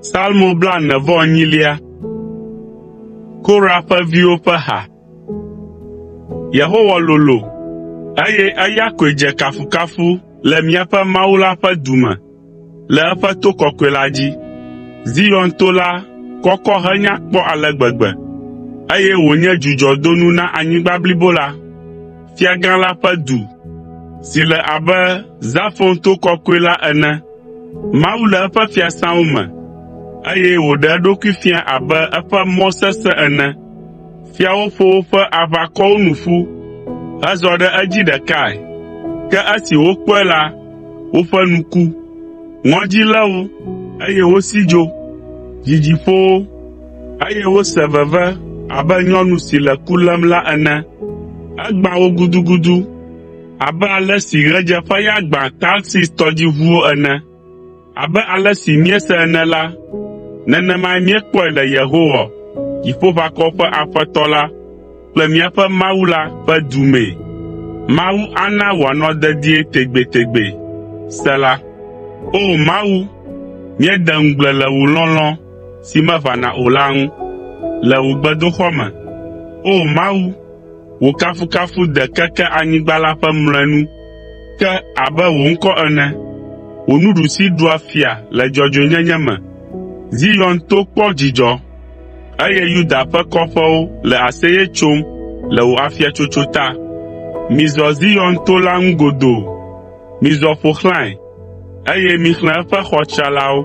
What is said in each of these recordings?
Salmo blaene-vɔ-enyilia. Kora ƒe viwo ƒe ha. Yehowa lolo, eye eya koe dze kafukafu le míaƒe Mawu la ƒe du me, le eƒe to kɔkɔe la dzi. Zion to la kɔkɔ henya kpɔ ale gbegbe, eye wònye dzudzɔdonu na anyigba blibo la. Fiagã la ƒe du, si le abe Zafon to kɔkɔe la ene. Mawu le eƒe fiasãwo me, eye wòɖe eɖokui fia abe eƒe mɔ sesẽ ene. Fiawo ƒo woƒe aʋakɔwo nu ƒu hezɔ ɖe edzi ɖekae, ke esi wokpɔe la, woƒe nu ku. Ŋɔdzi lé wo, eye wosi dzo. Dzidzi ƒo wo, eye wose veve abe nyɔnu si le ku lém la ene. Egbã wo gudugudu abe ale si ɣedzeƒeya gbãa Tarsis tɔdziʋuwo ene. Abe ale si míese ene la, nenemae míekpɔe le Yehowa, Dziƒoʋakɔwo ƒe Aƒetɔ la kple míaƒe Mawu la ƒe du mee. Mawu ana wòanɔ dedie tegbetegbe! Sela si meʋãna o la ŋu le wò gbedoxɔ me. O Mawu, wò kafukafu de keke anyigba la ƒe mlɔenu ke abe wò ŋkɔ ene. Wò nuɖusi ɖua fia le dzɔdzɔenyenye me. Zion to kpɔ dzidzɔ, eye Yuda ƒe kɔƒewo le aseye tsom le wò afiatsotso ta. Mizɔ Zion to la ŋu godoo, mizɔ ƒo xlãe, eye mixlẽ eƒe xɔ tsralawo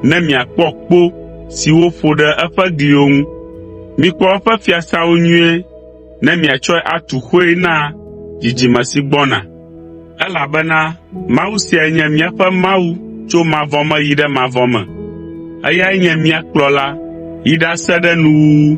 ne miakpɔ kpo siwo ƒo ɖe eƒe gliwo ŋu. Mikpɔ eƒe fiasãwo nyuie ne miatsɔe atu xoe na dzidzime si gbɔna, elabena Mawu siae nye míaƒe Mawu tso mavɔ me yi ɖe mavɔ me. Eyae nye mía Kplɔla yi ɖase ɖe nuwuwu.